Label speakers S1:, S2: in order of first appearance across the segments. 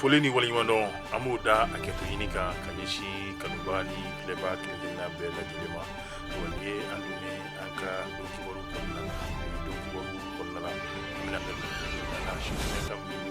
S1: foli ni waleɲumandɔn an b'o da a kɛto ɲini kan ka ɲɛsin kanubaa ni filɛbaa kelenkelenna bɛɛ lajɛlen ma wa nin ye an donnen an ka don kibaru kɔnɔna na don kibaru kɔnɔna na an bɛna bɛn na si fɛn kan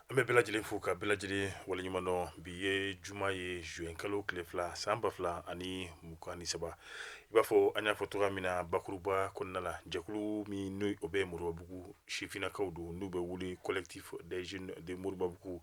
S1: An bɛ bɛɛ lajɛlen fo ka bɛɛ lajɛlen waleɲumandɔn bi ye juma ye juin kalo tile fila san ba fila ani mugan ni saba i b'a fɔ an y'a fɔ cogoya min na bakuruba kɔnɔna la jɛkulu min n'o ye o bɛ Moribabugu sifinnakaw don n'u bɛ wele collectif des jeunes de Moribabugu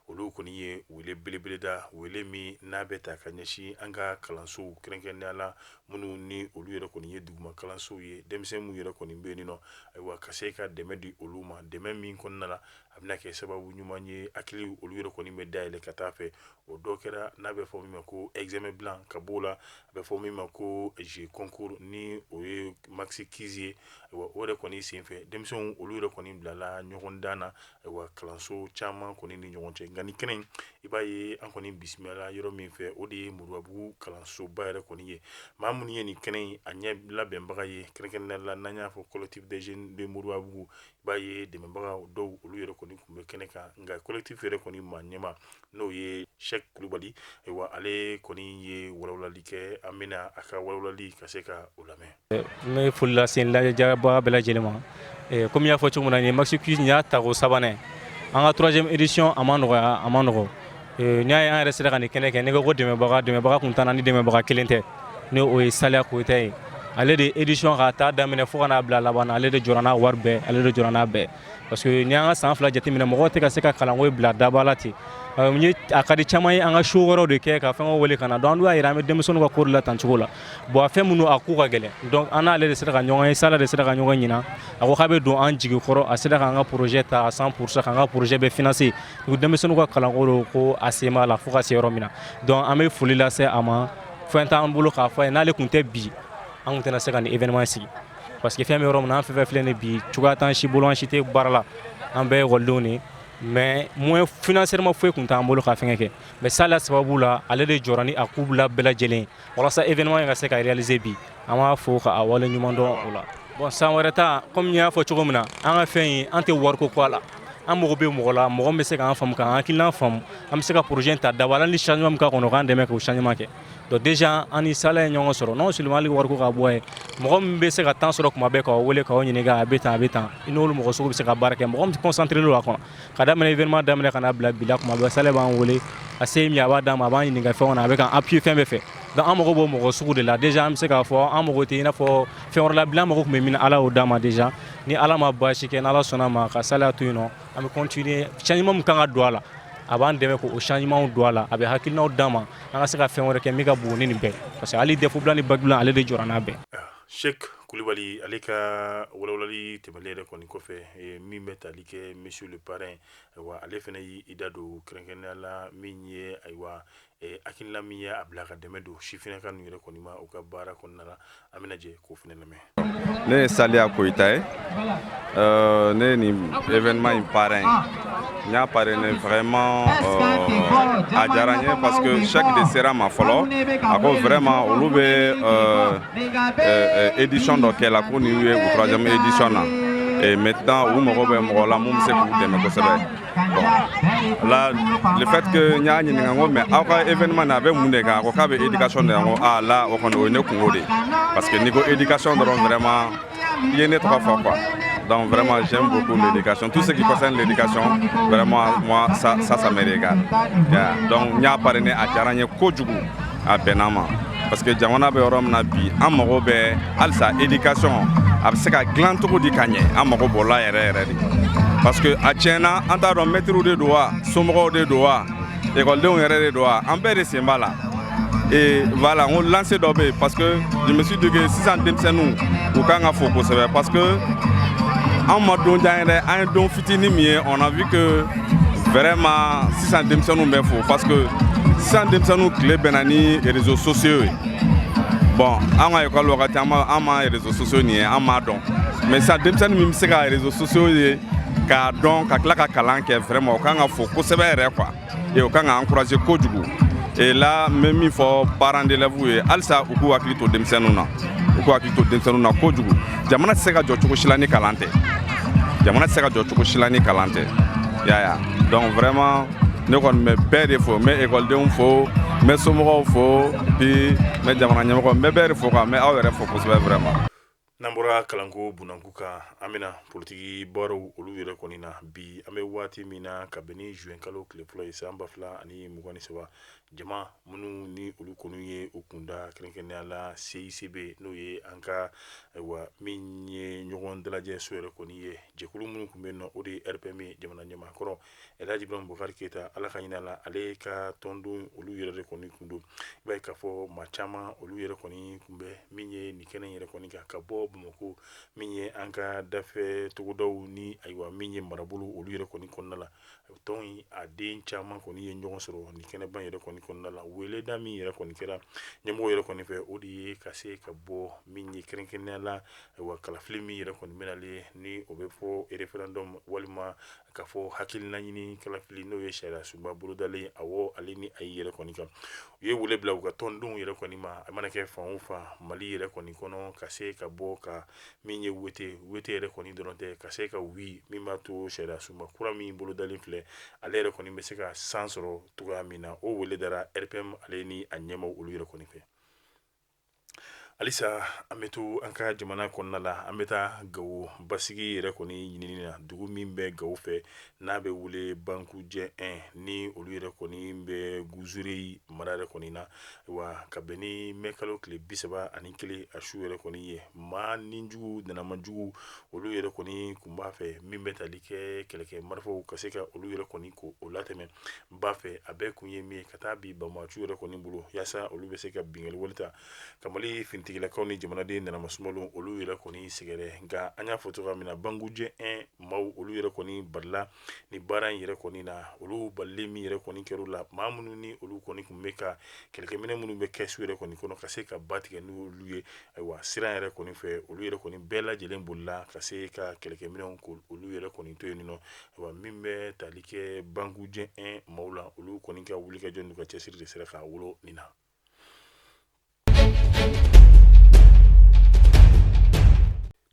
S1: olu kɔni ye wele belebele da wele min n'a bɛ taa ka ɲɛsin an ka kalansow kɛrɛnkɛrɛnnenya la minnu ni olu yɛrɛ kɔni ye duguma kalansow ye denmisɛnnin minnu yɛrɛ kɔni bɛ yen nɔ ayiwa ka se ka dɛmɛ di olu ma dɛmɛ min kɔnɔna la a bɛna kɛ sababu ɲuman ye hakili olu yɛrɛ kɔni bɛ dayɛlɛ ka taa fɛ o dɔ kɛra n'a bɛ fɔ min ma ko examen blanc ka bɔ o la a bɛ fɔ min ma ko jeu concours ni o ye maxi quiz ye o yɛrɛ kɔni senfɛ denmisɛnw olu yɛrɛ kɔni bilala ɲɔgɔndan na ayiwa kalanso caman kɔni ni ɲɔgɔn cɛ nka nin kɛnɛ i b'a ye an kɔni bisimila yɔrɔ min fɛ o de ye Moribabugu kalansoba yɛrɛ kɔni ye maa minnu ye nin kɛnɛ a ɲɛ labɛnbaga ye kɛrɛnkɛrɛnnenya la n'an y'a fɔ collectif des jeunes de Moribabugu b'a ye dɛmɛbaga dɔw olu yɛrɛ kɔni tun bɛ kɛnɛ kan nka collectif yɛrɛ kɔni maa ɲɛmaa n'o ye Sɛki Kulubali ayiwa ale kɔni ye walawalali kɛ an bɛna a ka walawalali ka se ka o lamɛn n bɛ foli
S2: lase lajɛbaa bɛɛ lajɛlen ma kɔmi y'a fɔ cogo min na nin maxi quiz nin y'a tako sabanan an ka troisième édition a ma nɔgɔya a ma nɔgɔ Ee n'i y'a ye an yɛrɛ sera ka nin kɛnɛ kɛ n'i ko ko dɛmɛbaga dɛmɛbaga tun t'an na ni dɛmɛbaga kelen tɛ ni o ye Sala Koyita ye ale de ye édition k'a ta daminɛ fo ka n'a bila laban na ale de jɔra n'a wari bɛɛ ale de jɔra n'a bɛɛ parce que n'i y'an ka san fila jateminɛ mɔgɔw tɛ ka se ka kalanko in bila daba la ten euh, n ye a ka di caman ye an ka show wɛrɛw de kɛ ka fɛnkɛw wele ka na donc an dun y'a yira an bɛ denmisɛnninw ka ko de la tan cogo la bon a fɛn minnu a ko ka gɛlɛn donc an n'ale de sera ka ɲɔgɔn ye Sala de sera ka ɲɔgɔn ɲinan a ko k'a bɛ don an jigi kɔrɔ a sera k'an ka projet ta à 100 pourcent k'an ka projet bɛɛ financer U denmisɛnnin ka kalanko don ko a sen b'a la fo ka se yɔrɔ min na donc an bɛ foli lase a ma fɛn t'an bolo k'a fɔ a ye n'ale tun tɛ bi an tɛna se ka nin événement sigi parce que fɛn bɛ yɔrɔ min an fɛn filɛ ni bi cogoya t'an si bolo an si tɛ baara la an bɛɛ ye ekɔlidenw de mais moyen financièrement foyi tun t'an bolo ka fɛn kɛ mais Sala sababu la ale de jɔra ni a k'u bila bɛɛ lajɛlen walasa événement in ka se ka réaliser bi an b'a fo k'a waleɲumandɔn o la bon san wɛrɛ ta kɔmi y'a fɔ cogo min na an ka fɛn ye an tɛ wariko kɔ a la an mago bɛ mɔgɔ la mɔgɔ min bɛ se k'an faamu k'an hakilina faamu an bɛ se ka projet ta daba la ni changement ka kɔnɔ k'an dɛmɛ k'o changement kɛ donc déjà an ni Sala ye ɲɔgɔn sɔrɔ non seulement hali wariko ka bɔ yen mɔgɔ min bɛ se ka temps sɔrɔ tuma bɛɛ k'a wele k'a ɲini a bɛ taa a bɛ taa i n'olu mɔgɔ sugu bɛ se ka baara kɛ mɔgɔ bɛ concentrer la kɔnɔ Ka daminɛ événement daminɛ ka na bila bi la kuma bɛɛ Salia b'an weele a se min a b'a d'an ma a b'an ɲini ɲininka fɛn kɔnɔ a bɛ an appui fan bɛɛ fɛ donc an mago b'o mɔgɔ sugu de la déjà an bɛ se k'a fɔ an mago tɛ i n'a fɔ fɛn wɛrɛ la bilen an mago tun bɛ min na ala y'o d'an ma déjà ni ala ma baasi kɛ ala sɔnna ma ka Salia to yen nɔn an bɛ continuer changement kan ka don a la a b'an dɛmɛ ko changement don a la a bɛ hakilina d'an ma an ka se ka fɛn wɛrɛ kɛ min ka bon ni nin bɛɛ parce que ale de fu ni ba ale de jɔ n'a bɛɛ
S1: Cheick Kulubali ale ka walawalali tɛmɛlen yɛrɛ kɔni kɔfɛ min bɛ taali kɛ monsieur le parrain ayiwa ale fana y'i da don kɛrɛnkɛrɛnnenya la min ye ayiwa hakilina min ye a bila ka dɛmɛ don Sifinna kanu yɛrɛ kɔni ma u ka baara kɔnɔna na an bɛna jɛ k'o fana lamɛn ne ye
S3: Salia Koyita ye Euh, ne ni événement in parrain n y'a parrainé vraiment euh, a diyara n ye parce que Cheick de sera n ma fɔlɔ a ko vraiment olu bɛ euh, euh, édition dɔ kɛ la ko nin ye u troisième édition na et maintenant u mago bɛ mɔgɔ la min bɛ se k'u dɛmɛ kosɛbɛ bon là le fait que n y'a ɲininka n ko mais aw ka événement na a bɛ mun de kan a ko k'a bɛ éducation de la n ko ah là o kɔni o ye ne kunko de ye parce que n'i ko éducation dɔrɔn vraiment Ye ne tɔgɔ fɔ quoi donc vraiment j'aime beaucoup l'éducation tout ce qui concerne l'éducation vraiment moi ça ça ça me regarde yeah. donc n y'a parrainé a diyara n ye kojugu a bɛnna ma parce que jamana bɛ yɔrɔ min na bi an mago bɛ halisa éducation a bɛ se ka dilan cogo di ka ɲɛ an mago b'o la yɛrɛ yɛrɛ de parce que a tiɲɛna an t'a dɔn mɛtiriw de don wa somɔgɔw de don wa Ekɔlidenw yɛrɛ de don wa an bɛɛ de sen b'a la et voilà on lance dɔ bɛ yen parce que je me suis dit que sisan denmisɛnninw u ka kan ka fo kosɛbɛ parce que an ma don jan yɛrɛ an ye don fitinin min ye on a vu que vraiment sisan denmisɛnninw bɛ fo parce que sisan denmisɛnninw tile bɛnna ni réseaux sociaux ye bon an ka école wagati an ma réseaux sociaux nin ye an m'a dɔn mais sisan denmisɛnnin min bɛ se ka réseaux sociaux ye k'a dɔn ka tila ka kalan kɛ vraiment o kan ka fo kosɛbɛ yɛrɛ quoi et o kan ka encourager kojugu et là n bɛ min fɔ parents d'élèves ye halisa u k'u hakili to denmisɛnninw na u k'u hakili to denmisɛnninw na kojugu jamana tɛ se ka jɔ cogo si la ni kalan tɛ jamana tɛ se ka jɔ cogo si la ni kalan tɛ yeah yeah donc vraiment ne kɔni bɛ bɛɛ de fo n bɛ ekɔlidenw fo n bɛ somɔgɔw fo puis n bɛ jamana ɲɛmɔgɔ n bɛ bɛɛ de fo quoi n bɛ aw yɛrɛ fo kosɛbɛ vraiment n'an
S1: bɔra kalanko bunanku kan an bɛna politiki baaraw olu yɛrɛ kɔni na bi an bɛ waati min na ka bɛn ni juin kalo tile fɔlɔ ye san ba fila ani mugan ni saba jama minnu ni olu kɔni ye u kun da kɛrɛnkɛrɛnnenya la CICB n'o ye an ka ayiwa min ye ɲɔgɔn dalajɛ so yɛrɛ kɔni ye jɛkulu minnu tun bɛ yen nɔ o de ye RPM ye jamana ɲɛmaakɔrɔ Alhaji Ibrahim Bubakari Keyita Ala ka hinɛ a la, ale ka tɔndenw olu yɛrɛ de kɔni tun don, i b'a ye k'a fɔ maa caman olu yɛrɛ kɔni tun bɛ min ye nin kɛnɛ yɛrɛ kɔni kan ka bɔ Bamakɔ min ye an ka dafɛ togodaw ni ayiwa min ye marabolo olu yɛrɛ kɔni kɔnɔna la tɔn in a den caman kɔni ye ɲɔgɔn sɔrɔ nin kɛnɛba yɛrɛ kɔni kɔnɔna la weleda min yɛrɛ kɔni kɛra ɲɛmɔgɔ yɛrɛ kɔni fɛ o de ye ka se ka bɔ min ye kɛrɛnkɛrɛnnenya la ayiwa kalafili min yɛrɛ kɔni bɛnalen ni o bɛ fɔ referendum walima ka fɔ hakilinaɲini kalafili n'o ye sariya sunba bolodalen awɔ ale ni a yɛrɛ kɔni kan u ye wele bila u ka tɔndenw yɛrɛ kɔni ma a mana kɛ fan o fan mali yɛrɛ kɔni kɔnɔ ka se ka bɔ ka min ye wete wete yɛrɛ kɔni dɔrɔn tɛ ka se ka wi min b'a to sariya sunba kura min bolodalen filɛ ale yɛrɛ kɔni bɛ se ka san sɔrɔ cogoya min na o wele dara RPM ale ni a ɲɛmaaw olu yɛrɛ kɔni fɛ halisa an bɛ to an ka jamana kɔnɔna la an bɛ taa gawo basigi yɛrɛ kɔni ɲinini na dugu min bɛ gawo fɛ n'a bɛ wele bankujɛ un ni olu yɛrɛ kɔni bɛ gunzureyi mara yɛrɛ kɔni na wa ka bɛn ni mɛ kalo tile bi saba ani kelen a su yɛrɛ kɔni ye maa nijugu nanamanjugu olu yɛrɛ kɔni kun b'a fɛ min bɛ tali kɛ kɛlɛkɛ marifaw ka se ka olu yɛrɛ kɔni ko o latɛ n ba fɛ a bɛɛ kun ye min ye ka taa bila banbaanciw yɛrɛ kɔni bolo yaasa olu bɛ se ka binkanni wale ta ka mali finitigilakaw ni jamanaden nanamasuma olu yɛrɛ kɔni sɛgɛrɛ nka an y'a fɔ cogoya min na bankujɛ un maaw olu yɛrɛ kɔni balila ni baara in yɛrɛ kɔni na olu bali min yɛrɛ kɔni kɛr'u la maa minnu ni olu kɔni tun bɛ ka kɛlɛkɛminɛ minnu bɛ kɛsu yɛrɛ kɔni kɔnɔ ka se ka ba tigɛ n'olu ye ayiwa siran yɛrɛ kɔni fɛ olu yɛrɛ kɔni bɛɛ lajɛlen bolila ka se ka kɛlɛkɛminɛ olu yɛrɛ kɔni to yen nɔ Wa min bɛ tali kɛ bankujɛ un maaw la olu kɔni ka wulikajɔ n'u ka cɛsiri de sera k'a wolo nin na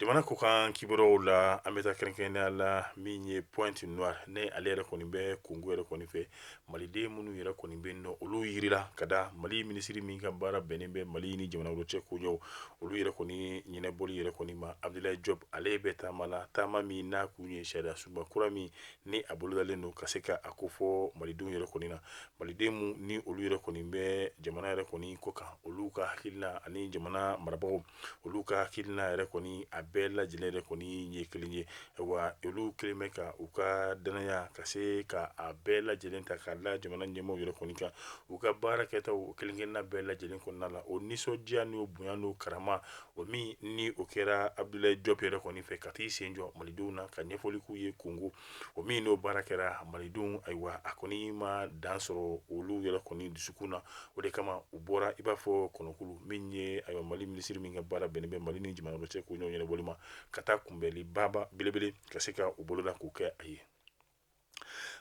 S1: jamana kɔkan kibaruw la an bɛ taa kɛrɛnkɛrɛnya la min ye Pointe Noire ale yɛrɛ kɔni bɛ Kongo yɛrɛ kɔni fɛ maliden minnu yɛrɛ kɔni bɛ yen nɔ olu jirila ka da mali minisiri min ka baara bɛnnen bɛ mali ni jamana olu cɛ koɲɛw olu yɛrɛ kɔni ɲɛnabɔli yɛrɛ kɔni ma Abdulayi Jɔpu ale bɛ taama la taama min n'a tun ye sariya sunba kura min ni a bolodalen don ka se ka a kofɔ malidenw yɛrɛ kɔni na maliden minnu ni olu yɛrɛ kɔni bɛ jamana yɛrɛ kɔni kɔkan olu ka hakilina ani jamana marabagaw olu ka hakilina yɛrɛ kɔni a bɛɛ lajɛlen yɛrɛ kɔni ye kelen ye wa olu kɛlen bɛ ka u ka dannaya ka se ka a bɛɛ lajɛlen ta k'a la jamana ɲɛmaaw yɛrɛ kɔni kan u ka baara kɛtaw kelenkelenna bɛɛ lajɛlen kɔnɔna la o nisɔndiya n'o bonya n'o karama o min ni o kɛra Abdulayi Jɔpu yɛrɛ kɔni fɛ ka taa i sen jɔ malidenw na ka ɲɛfɔli k'u ye Kongo o min n'o baara kɛra malidenw ayiwa a kɔni ma dan sɔrɔ olu yɛrɛ kɔni dusukun na o de kama u bɔra i b'a fɔ kɔnɔkulu min ye ayiwa mali minisiri min ka baara bɛnnen bɛ mali ni jamana wɛrɛ cɛ ko ɲɔgɔn ɲɛnabɔli ma ka taa kunbɛnli baaba belebele ka se ka u boloda k'o kɛ a ye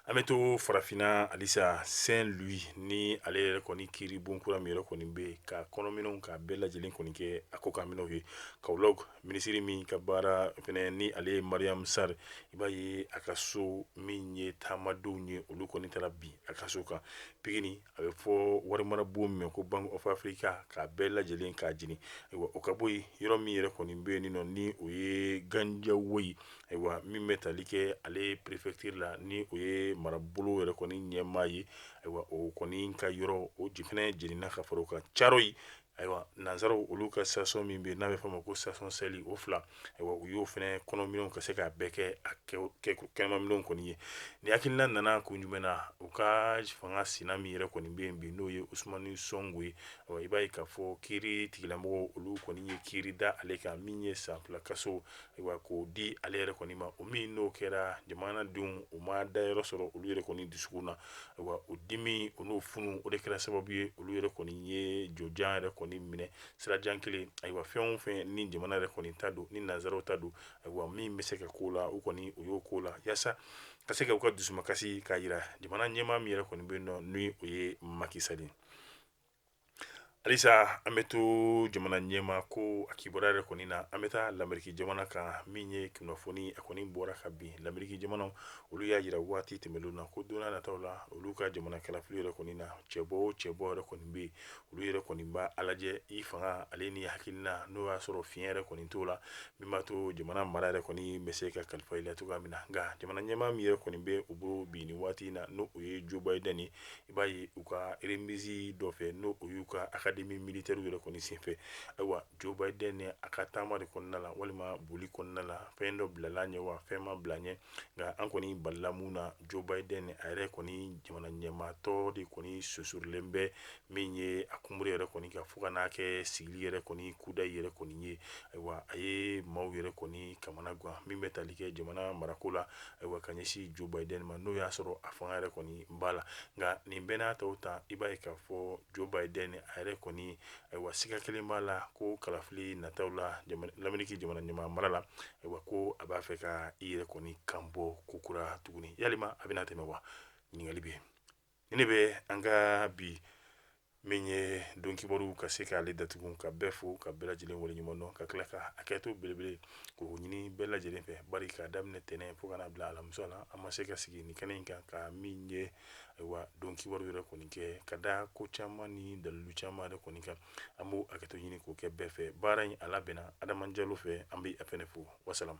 S1: an bɛ to farafinna halisa saint louis ni ale yɛrɛ kɔni kiiri bon kura min yɛrɛ kɔni bɛ yen ka kɔnɔminɛnw k'a bɛɛ lajɛlen kɔni kɛ a kɔkanminɛnw ye kaolack minisiri min ka baara fana ni ale ye mariam sarr i b'a ye a ka so min ye taamadenw ye olu kɔni taara bi a ka so kan pikine a bɛ fɔ warimara bon min ko bank of africa k'a bɛɛ lajɛlen k'a jeni ayiwa o ka bɔ yen yɔrɔ min yɛrɛ kɔni bɛ yen nɔ ni o ye guédiawaye ayiwa min bɛ tali kɛ ale prefecture la ni o ye marabolo yɛrɛ kɔni ɲɛmaa ye ayiwa o kɔni ka yɔrɔ o fana jenina ka fara o kan thiaroye Ayiwa nanzaraw olu ka station min bɛ n'a bɛ fɔ ma ko station shell o fila ayiwa u y'o fana kɔnɔminɛnw ka se k'a bɛɛ kɛ a kɛnɛmaminɛnw kɔni ye nin hakilina nana kun jumɛn na u ka fanga sina min yɛrɛ kɔni bɛ yen bi n'o ye usmani sonko ye i b'a ye k'a fɔ kiiritigilamɔgɔw olu kɔni ye kiiri da ale kan min ye san fila kaso ayiwa k'o di ale yɛrɛ kɔni ma o min n'o kɛra jamanadenw u ma dayɔrɔ sɔrɔ olu yɛrɛ kɔni dusu na ayiwa o dimi o n'o funu o de kɛra sababu ye olu yɛrɛ kɔni ye jɔjan yɛrɛ kɔni minɛ sirajan kelen ayiwa fɛn o fɛn ni jamana yɛrɛ kɔni ta don ni nanzaraw ta don ayiwa min bɛ se ka k'o la u kɔni u y'o k'o la yaasa ka se ka u ka dusumakasi k'a yira jamana ɲɛmaa min yɛrɛ kɔni bɛ nɔ n'o ye macky sall ye Halisa an bɛ to jamana ɲɛmaa ko a kibaruya yɛrɛ kɔni na an bɛ taa lamɛriki jamana kan min ye kunnafoni a kɔni bɔra ka bin lamɛriki jamana olu y'a yira waati tɛmɛnen na ko don nata la olu ka jamana kalafili yɛrɛ kɔni na cɛbɔ o cɛbɔ yɛrɛ kɔni bɛ yen olu yɛrɛ kɔni b'a lajɛ i fanga ale ni hakilina n'o y'a sɔrɔ fiɲɛ yɛrɛ kɔni t'o la min b'a to jamana mara yɛrɛ kɔni bɛ se ka kalifa i la cogoya min na nka jamana ɲɛmaa min yɛrɛ kɔni bɛ u bolo bi nin waati in na n'o ye jo biden i b'a ye u ka remise dɔ fɛ n'o o y'u ka académie militaire yɛrɛ kɔni senfɛ ayiwa jo biden a ka taama de kɔnɔna la walima boli kɔnɔna la fɛn dɔ bilala ɲɛ wa fɛn ma bila ɲɛ nka an kɔni balila mun na jo biden a yɛrɛ kɔni jamana ɲɛmaatɔ de kɔni sonsorolen bɛ min ye a kunbiri yɛrɛ kɔni kan fo ka n'a kɛ sigili yɛrɛ kɔni kudayi yɛrɛ kɔni ye ayiwa a ye maaw yɛrɛ kɔni kamana gan min bɛ tali kɛ jamana marako la ayiwa ka ɲɛsin jo biden ma n'o y'a sɔrɔ a fanga yɛrɛ kɔni b'a la nka nin bɛɛ n'a taw ta i b'a ye k'a fɔ jo biden a yɛrɛ kɔni ayiwa siga kelen b'a la ko kalafili nataw la lamɛriki jamana ɲɛmaa mara la ayiwa ko a b'a fɛ ka i yɛrɛ kɔni kan bɔ kokura tuguni yalima a bɛna tɛmɛ wa ɲininkali bɛ yen ne bɛ an ka bi min ye don kibaru ka se k'ale datugu ka bɛɛ fo ka bɛɛ lajɛlen waleɲuman dɔn ka tila ka hakɛto belebele k'o ɲini bɛɛ lajɛlen fɛ bari k'a daminɛ tɛnɛn fo ka n'a bila alamisa la an ma se ka sigi nin kɛnɛ in kan ka min ye ayiwa don kibaru yɛrɛ kɔni kɛ ka da ko caman ni dalilu caman yɛrɛ kɔni kan an b'o hakɛto ɲini k'o kɛ bɛɛ fɛ baara in a labɛnna Adama Jalo fɛ an bɛ a fɛnɛ fo wasalamu